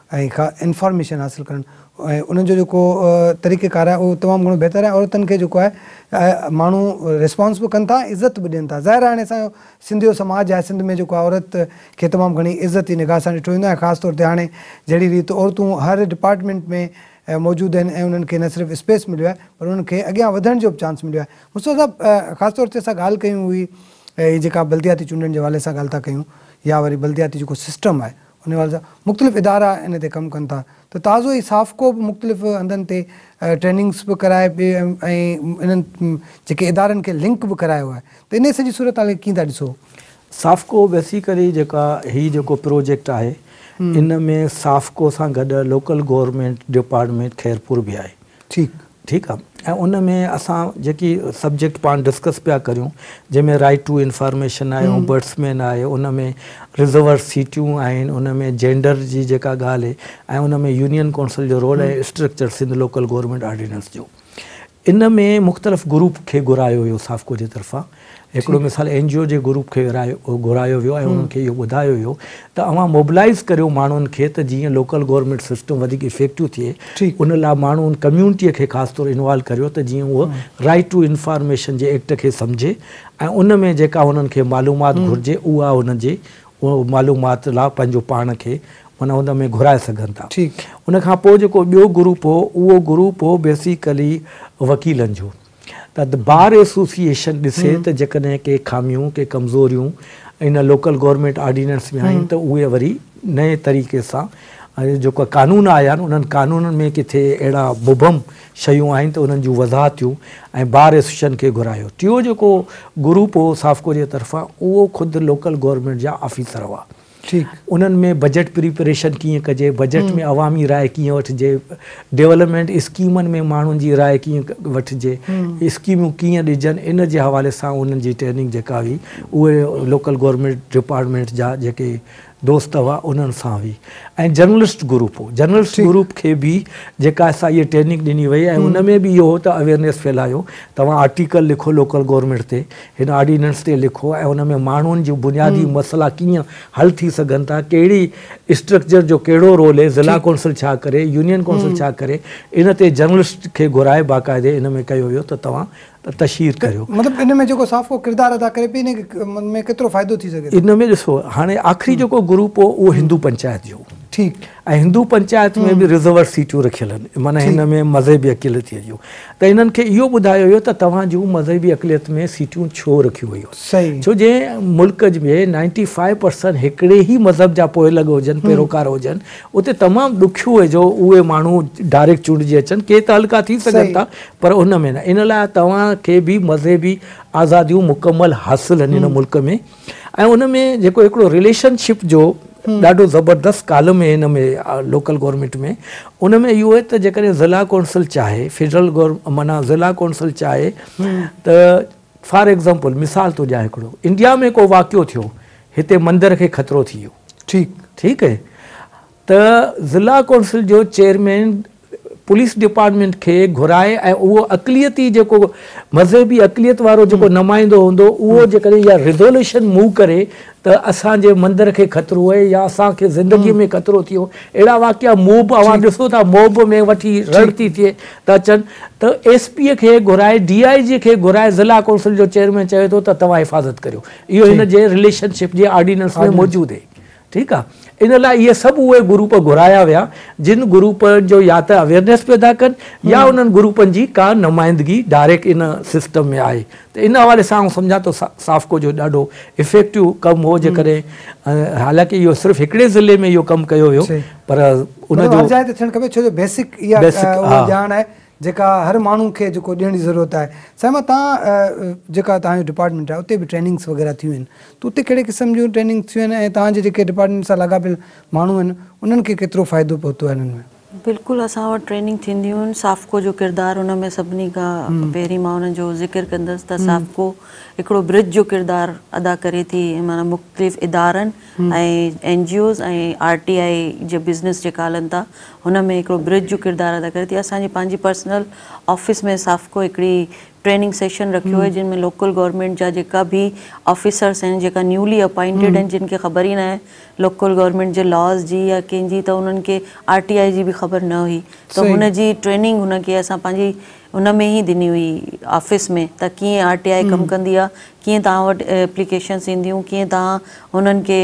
۽ ڪا انفارميشن حاصل ڪرڻ ۽ انهن جو جيڪو طريقه ڪار آهي اهو تمام گهڻو بهتر آهي عورتن کي جيڪو آهي ماڻهو ريسپانس به ڪن ٿا عزت به ڏين ٿا ظاهر آهي هاڻي اسان جو سنڌ جو سماج آهي سنڌ ۾ جيڪو آهي عورت کي تمام گهڻي عزت جي نگاهه سان ڏٺو ويندو آهي خاص طور تي هاڻي جهڙي ريت عورتون هر ڊپارٽمينٽ ۾ موجود آهن ۽ انهن کي نه صرف اسپيس مليو آهي پر انهن کي اڳيان وڌڻ جو به چانس مليو آهي مصطفيٰ صاحب خاص طور تي اسان ڳالهه ڪيون هئي هي جيڪا بلدياتي چونڊن جي حوالي سان ڳالهه ٿا ڪيون يا وري بلدياتي جيڪو سسٽم آهي ان حوالي سان مختلف ادارا ان تي ڪم ڪن ٿا ته تازو ئي سافڪو به مختلف هنڌن تي ٽريننگس به ڪرائي ۽ انهن جيڪي ادارن کي لنڪ به ڪرايو آهي ته انهي سڄي صورتحال کي ڪيئن ٿا ڏسو؟ سافڪو بيسيڪلي جيڪا هي جيڪو پروجيڪٽ آهي ان ۾ سافڪو سان گڏ لوڪل گورنمينٽ ڊپارٽمينٽ خيرپور به آهي ٺيڪ ٺيڪ آ ۽ ان ۾ اسان جيڪي سبجيڪٽ پاڻ ڊسڪس پيا ڪريون جنهن ۾ رائيٽ ٽو انفارميشن آهي اومبرڊسمين آهي ان ۾ رزرور سيٽيون آهن ان ۾ جينڊر جي جيڪا ڳالهه هي ۽ ان ۾ يونين ڪونسل جو role ۽ structure Sindh local government ordinance جو ان ۾ مختلف گروپ کي گهرايو ويو سافڪو جي طرفان هڪڙو مثال اين جي او جي گروپ کي گهرايو ويو ۽ انهن کي اهو ٻڌايو ويو ته اوهان موبلائيز ڪريو ماڻهن کي ته جيئن لوڪل گورنمينٽ سسٽم وڌيڪ افيڪٽو ٿئي ان لاء ماڻهن ڪميونٽي کي خاص طور انوالو ڪريو ته جيئن اهو رائيٽ ٽو انفارميشن جي ايڪٽ کي سمجهي ۽ ان ۾ جيڪا هنن کي معلومات گهرجي اها هن جي معلومات لاء پنهنجو پاڻ کي معنيٰ ان ۾ گهرائي سگهن ٿا ان کان پوء جيڪو ٻيو گروپ هو اهو گروپ هو بيسيڪلي وڪيلن جو. ته The Bar Association ڏسي ته جيڪڏهن ڪي خاميون، ڪي ڪمزوريون ان لوڪل گورنمينٽ آرڊيننس ۾ آهن ته اهي وري نئين طريقي سان جيڪا قانون آيا آهن انهن قانونن ۾ ڪٿي اهڙا مبهم شيون آهن ته انهن جون وضاحتيون ۽ بار ايسوسيئشن کي گهرايو. ٽيون جيڪو گروپ هو سافڪو جي طرفان اهو خود لوڪل گورنمينٽ جا آفيسر هئا. ٺيڪ انهن ۾ بجيٽ پريپريشن ڪيئن ڪجي، بجيٽ ۾ عوامي راء ڪيئن وٺجي، ڊولپمينٽ اسڪيمن ۾ ماڻهن جي راء ڪيئن وٺجي، اسڪيمون ڪيئن ڏجن ان جي حوالي سان انهن جي ٽريننگ جيڪا هئي اهي لوڪل گورنمينٽ ڊپارٽمينٽ جا جيڪي دوست هئا انهن سان هئي ۽ جرنلسٽ گروپ هو جرنلسٽ گروپ کي به جيڪا سا اهي ٽريننگ ڏني وئي ۽ ان ۾ به اهو ته اويرنيس ڦهلايو توهان آرٽيڪل لکو لوڪل گورنمينٽ تي هن آرڊيننس تي لکو ۽ ان ۾ ماڻهن جون بنيادي مسئلا ڪيئن حل ٿي سگهن ٿا، ڪهڙي اسٽرڪچر جو ڪهڙو رول اهي، ضلع ڪونسل ڇا ڪري، يونين ڪونسل ڇا ڪري، ان تي جرنلسٽ کي گهرائي باقاعدي ان ۾ ڪيو ويو ته توهان تشهير ڪريو. مطلب ان ۾ جيڪو صحافو ڪردار ادا ڪري پئي ان ۾ ڪيترو فائدو ٿي سگهي ٿو. ان ۾ ڏسو هاڻي آخري جيڪو گروپ هو اهو هندو پنچائت جو هو. ٺيڪ. ۽ هندو پنچائت ۾ به رزورڊ سيٽون رکيل آهن معنيٰ هن ۾ مذهبي اقليتيء جون ته هنن کي اهو ٻڌايو ويو ته توهان جون مذهبي اقليت ۾ سيٽون ڇو رکيون ويون آهن ڇو جنهن ملڪ ۾ نائنٽي فائيو پرسنٽ هڪڙي ئي مذهب جا پوئلڳ هجن پيروڪار هجن اتي تمام ڏکيو آهي جو اهي ماڻهو ڊائريڪٽ چونڊجي اچن ڪي تعلقا ٿي سگهن ٿا پر ان ۾ نه ان لاء توهان کي به مذهبي آزاديون مڪمل حاصل آهن هن ملڪ ۾ ۽ ان ۾ جيڪو هڪڙو رليشن شپ جو ڏاڍو زبردست ڪالم هي ان ۾ لوڪل گورنمينٽ ۾ ان ۾ اهو هي ته جيڪڏهن ضلع ڪونسل چاهي فيڊرل گور معنيٰ ضلع ڪونسل چاهي ته فار ايگزامپل مثال ٿو ڏيان هڪڙو انڊيا ۾ ڪو واقعو ٿيو هتي مندر کي خطرو ٿي ويو ٺيڪ ٺيڪ ته ضلع ڪونسل جو چيئرمين پوليس ڊپارٽمينٽ کي گهرائي ۽ اهو اقليتي جيڪو مذهبي اقليت وارو جيڪو نمائندو هوندو اهو جيڪڏهن اها ريزوليوشن موو ڪري ته اسان جي مندر کي خطرو اهي يا اسان کي زندگي ۾ خطرو ٿيو اهڙا واقعا موب اوهان ڏسو ٿا موب ۾ وٺي رڙ ٿي ٿئي ته اچن ته ايس پي کي گهرائي ڊي آئي جي کي گهرائي ضلع ڪونسل جو چيئرمين چوي ٿو ته توهان حفاظت ڪريو اهو هن جي رليشن شپ جي آرڊيننس ۾ موجود اهي ٺيڪ آ ان لاء اهي سڀ اهي گروپ گهرايا ويا جن گروپن جو يا ته اويرنيس پيدا ڪن يا انهن گروپن جي ڪا نمائندگي ڊائريڪٽ ان سسٽم ۾ آهي ته ان حوالي سان آئون سمجهان ٿو سافڪو جو ڏاڍو افيڪٽو ڪم هو جيڪڏهن حالانڪه اهو صرف هڪڙي ضلعي ۾ اهو ڪم ڪيو ويو پر ان جو هر جاء تي ٿيڻ کپي ڇو جو بيسڪ اها ڄاڻ آهي جيڪا هر ماڻهو کي جيڪو ڏيڻ جي ضرورت آهي صائمه تان جيڪا توهان جو ڊپارٽمينٽ آهي اتي به ٽريننگس وغيره ٿيون آهن ته اتي ڪهڙي قسم جون ٽريننگس ٿيون آهن ۽ توهان جي جيڪي ڊپارٽمينٽ سان لاڳاپيل ماڻهو آهن انهن کي ڪيترو فائدو پهتو آهي انهن ۾. بلڪل اسان وٽ ٽريننگ ٿينديون آهن سافڪو جو ڪردار ان ۾ سڀني کان پهرين مان انهن جو ذڪر ڪندس ته سافڪو هڪڙو برج جو ڪردار ادا ڪري ٿي معنيٰ مختلف ادارن N G Os ۽ R T I جي بزنس جيڪا هلن ٿا هن ۾ هڪڙو برج جو ڪردار ادا ڪري ٿي اسان جي پنهنجي پرسنل آفيس ۾ سافڪو هڪڙي ٽريننگ سيشن رکيو آهي جن ۾ لوڪل گورنمينٽ جا جيڪا به آفيسرس آهن جيڪا نيولي اپائنٽيڊ آهن جن کي خبر ئي ناهي لوڪل گورنمينٽ جي لاز جي يا ڪنهن جي ته انهن کي آر ٽي آء جي به خبر نه هئي ته هن جي ٽريننگ هن کي اسان پنهنجي ان ۾ ئي ڏني هئي آفيس ۾ ته ڪيئن آر ٽي آء ڪم ڪندي آهي، ڪيئن توهان وٽ ايپليڪيشنس اينديون، ڪيئن توهان هنن کي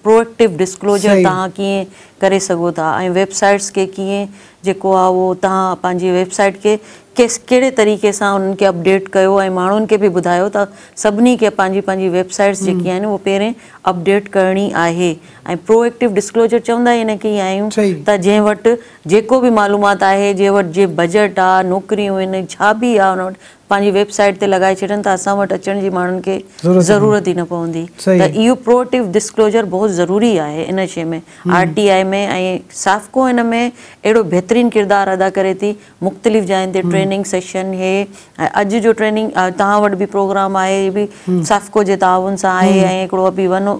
پروئڪٽو ڊسڪلوزر توهان ڪيئن ڪري سگهو ٿا ۽ ويب سائيٽس کي ڪيئن جيڪو آهي اهو توهان پنهنجي ويب سائيٽ کي ڪيس ڪهڙي طريقي سان انهن کي اپڊيٽ ڪيو ۽ ماڻهن کي به ٻڌايو ته سڀني کي پنهنجي پنهنجي ويب سائيٽس جيڪي آهن اهي پهرين اپڊيٽ ڪرڻي آهي ۽ پروئڪٽو ڊسڪلوزر چوندا ئي ان کي ئي آهيون ته جنهن وٽ جيڪو به معلومات آهي جنهن وٽ جي بجيٽ آ نوڪريون ان ڇا به آ ان وٽ پنهنجي ويب سائيٽ تي لڳائي ڇڏين ته اسان وٽ اچڻ جي ماڻهن کي ضرورت ئي نه پوندي ته اهو پروئيٽو ڊسڪلوزر بهت ضروري آهي ان شي ۾ آر ٽي آئي ۾ ۽ سافڪو ان ۾ اهڙو بهترين ڪردار ادا ڪري ٿي مختلف جاين تي ٽريننگ سيشن هي ۽ اڄ جو ٽريننگ توهان وٽ به پروگرام آهي اهي به سافڪو جي تعاون سان آهي ۽ هڪڙو ابي ون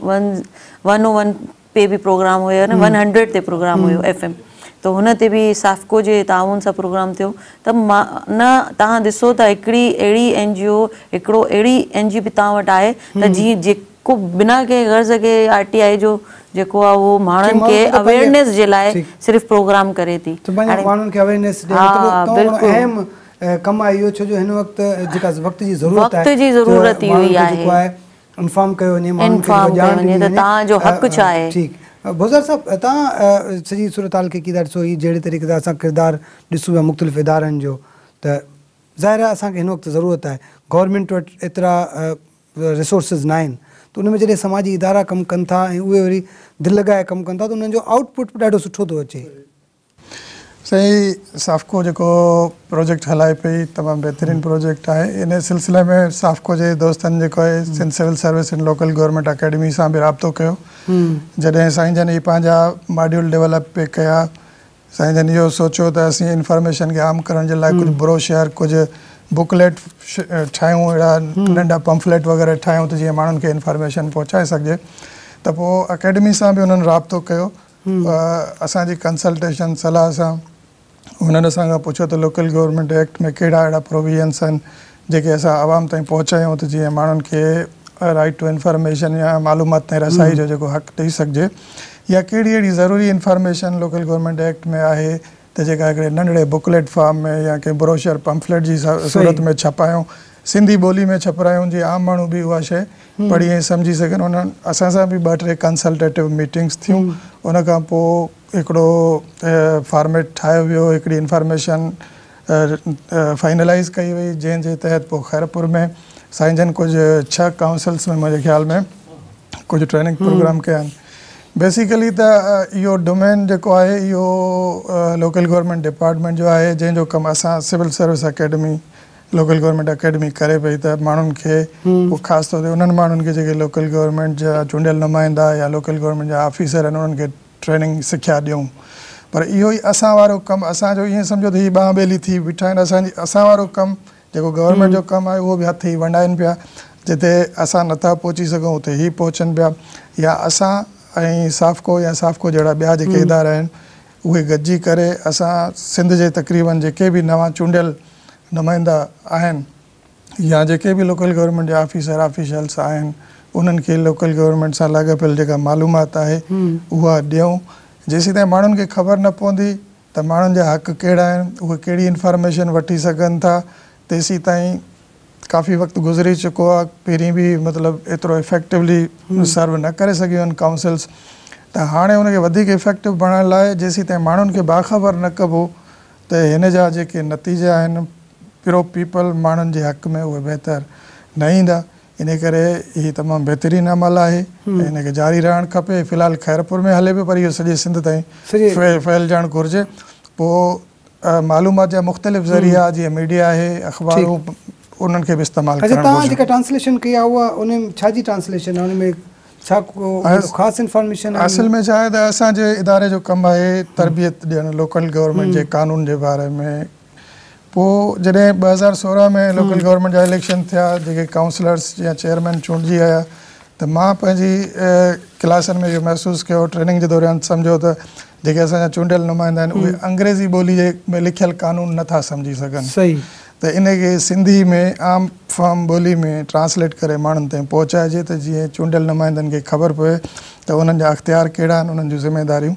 ون ون تي به پروگرام هيو ون هنڊريڊ تي پروگرام هيو ايف ايم ته هن تي به سافڪو جي تعاون سان پروگرام ٿيو ته مان نه تهان ڏسو ته هڪڙي اهڙي اين جي او هڪڙو اهڙي اين جي او به تهان وٽ آهي ته جي جيڪو بنا ڪنهن غرض کي آر ٽي آئي جو جيڪو آهي اهو ماڻهن کي اويئرنيس جي لاء صرف پروگرام ڪري ٿي ته پنهنجي ماڻهن کي اويئرنيس ڏي ها بلڪل اهم ڪم آهي اهو ڇو جو هن وقت جيڪا وقت جي ضرورت آهي وقت جي ضرورت اهو ئي آهي انفام ڪيو وڃي ماڻهن کي جيڪو ڄاڻ ڏني وڃي توهان جو حق ڇا آهي. ٺيڪ بوزار صاحب توهان سڄي صورتحال کي ڪي ٿا ڏسو هي جهڙي طريقي سان اسان ڪردار ڏسون پيا مختلف ادارن جو ته ظاهر آهي اسان کي هن وقت ضرورت آهي گورنمينٽ وٽ ايترا ريسورسز ناهن ته ان ۾ جڏهن سماجي ادارا ڪم ڪن ٿا ۽ اهي وري دل لڳائي ڪم ڪن ٿا ته انهن جو آئوٽ پٽ به ڏاڍو سٺو ٿو اچي. سائين سافڪو جيڪو پروجيڪٽ هلائي پئي تمام بهترين پروجيڪٽ آهي ان سلسلي ۾ سافڪو جي دوستن جيڪو آهي Sindh civil service and local government academy سان به رابطو ڪيو جڏهن سائين جن هي پنهنجا ماڊيول ڊيولپ پي ڪيا سائين جن اهو سوچيو ته اسين انفارميشن کي عام ڪرڻ جي لاء ڪجهه بروشر ڪجهه بڪليٽ ٺاهيون اهڙا ننڍا پمفليٽ وغيره ٺاهيون ته جيئن ماڻهن کي انفارميشن پهچائي سگهجي ته پوء اڪيڊمي سان به انهن رابطو ڪيو اسان جي ڪنسلٽيشن، صلاح، سان هنن اسان کان پڇيو ته لوڪل گورنمينٽ ايڪٽ ۾ ڪهڙا اهڙا پروويزنس آهن جيڪي اسان عوام تائين پهچايون ته جيئن ماڻهن کي رائيٽ ٽو انفارميشن يا معلومات تائين رسائي جو جيڪو حق ڏئي سگهجي يا ڪهڙي اهڙي ضروري انفارميشن لوڪل گورنمينٽ ايڪٽ ۾ آهي ته جيڪا هڪڙي ننڍڙي بڪليٽ فارم ۾ يا ڪنهن بروشر پمفليٽ جي صورت ۾ ڇپايون، سنڌي ٻولي ۾ ڇپرايون جيئن عام ماڻهو به اها شيء پڙهي ۽ سمجهي سگهن. انهن اسان سان به ٻه ٽي ڪنسلٽيٽو ميٽنگس ٿيون، ان کان پوء هڪڙو فارميٽ ٺاهيو ويو، هڪڙي انفارميشن فائنلائيز ڪئي وئي، جنهن جي تحت پوء خيرپور ۾ سائين جن ڪجهه ڇهه ڪائونسلز ۾ منهنجي خيال ۾ ڪجهه ٽريننگ پروگرام ڪيا آهن، بيسيڪلي ته اهو ڊومين جيڪو آهي اهو لوڪل گورنمينٽ ڊپارٽمينٽ جو آهي جنهن جو ڪم اسان civil service academy local government academy ڪري پئي ته ماڻهن کي پوء خاص طور تي انهن ماڻهن کي جيڪي لوڪل گورنمينٽ جا چونڊيل نمائندا يا لوڪل گورنمينٽ جا آفيسر آهن انهن کي ٽريننگ سکيا ڏيون پر اهو ئي اسان وارو ڪم اسان جو ائين سمجهو ته هي ٻانهن ٻيلي ٿي بيٺا آهن اسان جي اسان وارو ڪم جيڪو گورنمينٽ جو ڪم آهي اهو به هٿ هي ونڊائين پيا جتي اسان نٿا پهچي سگهون اتي هي پهچن پيا يا اسان ۽ سافڪو يا سافڪو جهڙا ٻيا جيڪي ادارا آهن اهي گڏجي ڪري اسان سنڌ جي تقريبن جيڪي به نوان چونڊيل نمائندا آهن يا جيڪي به لوڪل گورنمينٽ جا آفيسر آفيشلس آهن انهن کي لوڪل گورنمينٽ سان لاڳاپيل جيڪا معلومات آهي اها ڏيون جيسيتائين ماڻهن کي خبر نه پوندي ته ماڻهن جا حق ڪهڙا آهن، اهي ڪهڙي انفارميشن وٺي سگهن ٿا، تيسيتائين ڪافي وقت گذري چڪو آهي، پهرين به مطلب ايترو افيڪٽوولي سرو نه ڪري سگهيون آهن ڪائونسلز، ته هاڻي ان کي وڌيڪ افيڪٽو بڻائڻ لاء جيسيتائين ماڻهن کي باخبر نه ڪبو ته هن جا جيڪي نتيجا آهن پرو پيپل ماڻهن جي حق ۾ اهي بهتر نه ايندا، انهي ڪري هي تمام بهترين عمل آهي ۽ ان کي جاري رهڻ کپي في الحال خيرپور ۾ هلي پيو پر اهو سڄي سنڌ تائين ڦهلجڻ گهرجي پوء معلومات جا مختلف ذريعا جيئن ميڊيا آهي اخبارون انهن کي به استعمال ڪرڻ گهرجي. اڇا توهان جيڪا ٽرانسليشن ڪئي آهي اها ان ڇا جي ٽرانسليشن آهي ان ۾ ڇا ڪو خاص انفارميشن آهي. اصل ۾ ڇا آهي ته اسان جي اداري جو ڪم آهي تربيت ڏيڻ لوڪل گورنمينٽ جي قانون جي باري ۾ پوء جڏهن ٻه هزار سورهن ۾ لوڪل گورنمينٽ جا اليڪشن ٿيا جيڪي ڪائونسلرز يا چيئرمين چونڊجي آيا ته مان پنهنجي ڪلاسن ۾ اهو محسوس ڪيو ٽريننگ جي دوران سمجهيو ته جيڪي اسان جا چونڊيل نمائندا آهن اهي انگريزي ٻولي جي ۾ لکيل قانون نه ٿا سمجهي سگهن ته ان کي سنڌي ۾ عام فهم ٻولي ۾ ٽرانسليٽ ڪري ماڻهن تائين پهچائجي ته جيئن چونڊيل نمائندن کي خبر پوي ته انهن جا اختيار ڪهڙا آهن انهن جون ذميداريون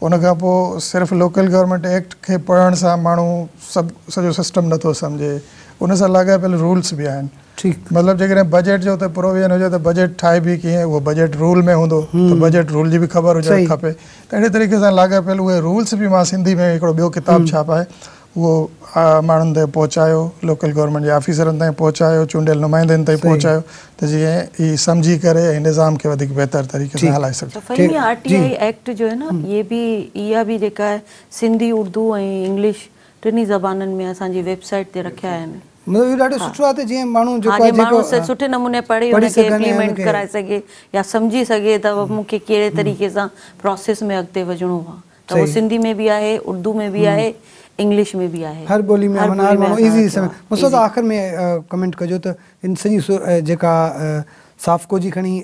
ان کان پوء صرف لوڪل گورنمينٽ ايڪٽ کي پڙهڻ سان ماڻهو سڀ سڄو سسٽم نٿو سمجهي ان سان لاڳاپيل رولس به آهن مطلب جيڪڏهن بجيٽ جو اتي پروويزن هجي ته بجيٽ ٺاهبي ڪيئن اهو بجيٽ رول ۾ هوندو ته بجيٽ رول جي به خبر هجڻ کپي ته اهڙي طريقي سان لاڳاپيل اهي رولس به مان سنڌي ۾ هڪڙو ٻيو ڪتاب ڇاپائي اهو ماڻهن تائين پهچايو، لوڪل گورنمينٽ جي آفيسرن تائين پهچايو، چونڊيل نمائندن تائين پهچايو ته جيئن هي سمجهي ڪري ۽ نظام کي وڌيڪ بهتر طريقي سان هلائي سگهجي. ته Fahim R T I act جو هي نه اهي به اها به جيڪا آهي سنڌي اردو ۽ انگلش ٽنهي زبانن ۾ اسان جي ويب سائيٽ تي رکيا آهن. مطلب اهو ڏاڍو سٺو آهي ته جيئن ماڻهو جيڪو آهي جيڪو ماڻهو سٺي نموني پڙهي ان کي امپليمينٽ ڪرائي سگهي يا سمجهي سگهي ته مون کي ڪهڙي طريقي سان پروسيس ۾ اڳتي وجهڻو آهي. ته اهو سنڌي ۾ به آهي، اردو ۾ به آهي، انگلش ۾ به آهي. هر ٻولي ۾ امن آهي ماڻهو ايزي سمجهي. مستوتا آخر ۾ ڪمينٽ ڪجو ته ان سڄي جيڪا سافڪو جي کڻي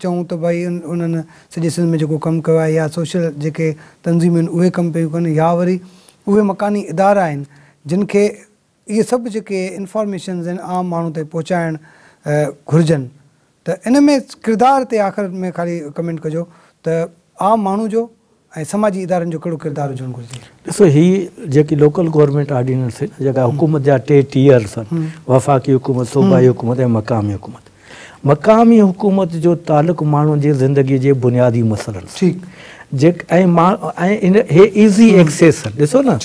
چئون ته ڀائي انهن سڄي سنڌ ۾ جيڪو ڪم ڪيو آهي يا سوشل جيڪي تنظيمون آهن اهي ڪم پيون ڪن يا وري اهي مڪاني ادارا آهن جن کي اهي سڀ جيڪي انفارميشنز آهن عام ماڻهو تائين پهچائڻ گهرجن ته ان ۾ ڪردار تي آخر ۾ خالي ڪمينٽ ڪجو ته عام ماڻهو جو ۽ سماجي ادارن جو ڪهڙو ڪردار هجڻ گهرجي. ڏسو هي جيڪي لوڪل گورنمينٽ آرڊيننس آهن جيڪا حڪومت جا ٽي ٽيئرز آهن وفاقي حڪومت، صوبائي حڪومت ۽ مقامي حڪومت مقامي حڪومت جو تعلق ماڻهن جي زندگي جي بنيادي مسئلن سان جيڪ ۽ هي ايزي ايڪسيس ڏسو نه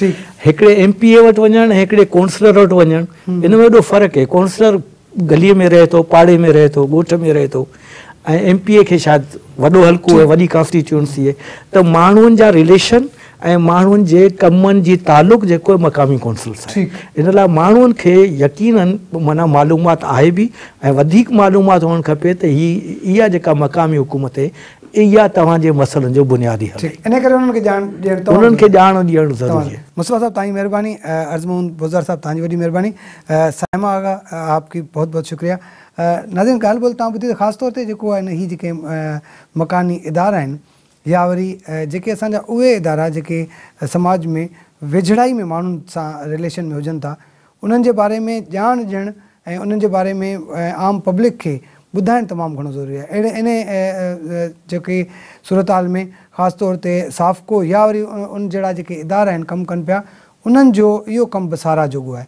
هڪڙي ايم پي اي وٽ وڃڻ ۽ هڪڙي ڪونسلر وٽ وڃڻ ان ۾ ايڏو فرق هي ڪونسلر گلي ۾ رهي ٿو پاڙي ۾ رهي ٿو ڳوٺ ۾ رهي ٿو ۽ ايم پي اي کي شايد وڏو حلقو وڏي ڪانسٽيٽيونسي ته ماڻهن جا رليشن ۽ ماڻهن جي ڪمن جي تعلق جيڪو مقامي ڪونسلز آهي ان لاء ماڻهن کي يقينا معنيٰ معلومات آهي به ۽ وڌيڪ معلومات هئڻ کپي ته هي اها جيڪا مقامي حڪومت هي اها توهان جي مسئلن جو بنيادي حل هي انهي ڪري انهن کي ڄاڻ ڏيڻ توهان انهن کي ڄاڻ ڏيڻ ضروري هي. مصباح صاحب توهان جي مهرباني عرض محمد بوزدار صاحب توهان جي وڏي مهرباني صائمه آغا آپ ڪي بهت بهت شڪريا ناظرين ڳالهه ٻولهه توهان ٻڌي ته خاص طور تي جيڪو آهي نه هي جيڪي مڪاني ادارا آهن يا وري جيڪي اسان جا اهي ادارا جيڪي سماج ۾ ويجهڙائي ۾ ماڻهن سان رليشن ۾ هجن ٿا انهن جي باري ۾ ڄاڻ ڏيڻ ۽ انهن جي باري ۾ عام پبلڪ کي ٻڌائڻ تمام گهڻو ضروري آهي اهڙي انهي جيڪي صورتحال ۾ خاص طور تي سافڪو يا وري ان جهڙا جيڪي ادارا آهن ڪم ڪن پيا انهن جو اهو ڪم به ساراهه جوڳو آهي.